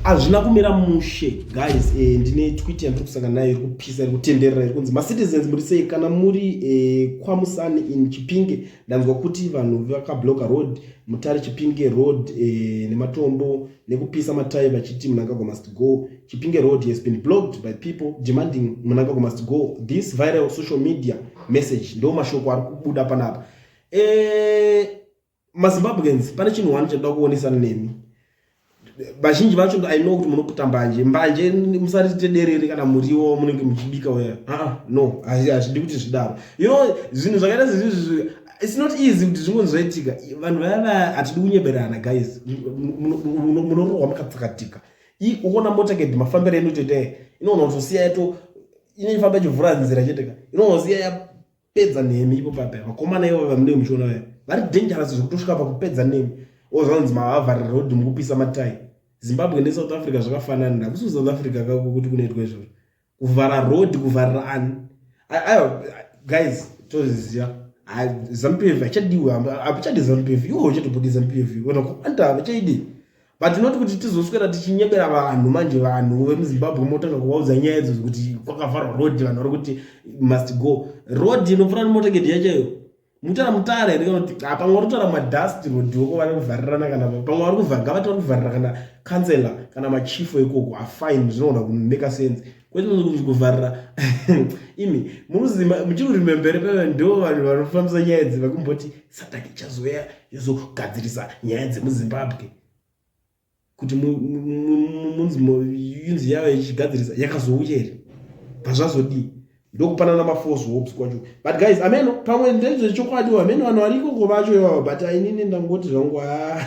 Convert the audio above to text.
hazvina kumira mushe guys eh, ndine twit yandiri kusangana nayo iri kupisa iri kutenderera iri kunzi macitizens muri sei kana muri eh, kwamusani in chipinge ndanzwa kuti vanhu vakabloka road mutare chipinge road eh, nematombo nekupisa matai vachiti munangagwa must go chipinge road has been blocked by people demanding munangagwa must go this viral social media message ndo mashoko ari kubuda panapa eh, mazimbabweans pane chinhu wani chatoda kuonesana nemi vazhinji vacho i know kuti munoputa mbanje mbanje musarite derere kana muriwo munenge muchibika uya aa no hazvidi kuti zvidaro you know zvinhu zvakaita zezvizvi its not easy kuti zvingonzoitika vanhu vaya vaya hatidi kunyeberana guys munorohwa makatsakatika ukuona mota kedi mafambiro enu toite inoona kutosiya yato inoifamba ichivhura nzira cheteka inoona siya pedza nemi ipo pape vakomana ivo vamunenge muchiona vaya vari dangerous zvekutosvika pakupedza nemi ozvanzi mavavharira rodhi mukupisa matai zimbabwe nesouth africa zvakafanana hakusi kusouth africa kako kuti kunoitwa izvozvo kuvhara rodhi kuvharira ani aiwa guys tozviziva zampf hachadiwe hapichadi zampf iwo uchatobudi zampf ona kuanta vachaidi but not kuti tizoswera tichinyebera vanhu manje vanhu vemuzimbabwe motanga kuvaudza nyaya idzo kuti kwakavharwa road vanhu vari kuti must go road inopfuura nemotakedi yachaiyo mutara mutare here kana kuti hapamwe vari kutaura madust road woko vari kuvharirana kana pamwe vari kuvhara ngavati vari kuvharira kana councellor kana machief ekoko afine zvinoona kumeka sense kwete kuvharira imi muzima muchiri kurimembere peve ndo vanhu vanofambisa nyaya idzi vakumboti sataki ichazouya yozogadzirisa nyaya dzemuzimbabwe kuti munziyunzi yayo ichigadzirisa yakazouya here pazvazodii ndokupanana maforce hopes kwacho but guys ameno pamwe ndezvechokwadi ameno vanhu variko ko vacho ivavo but ainini ndangoti zvangu haa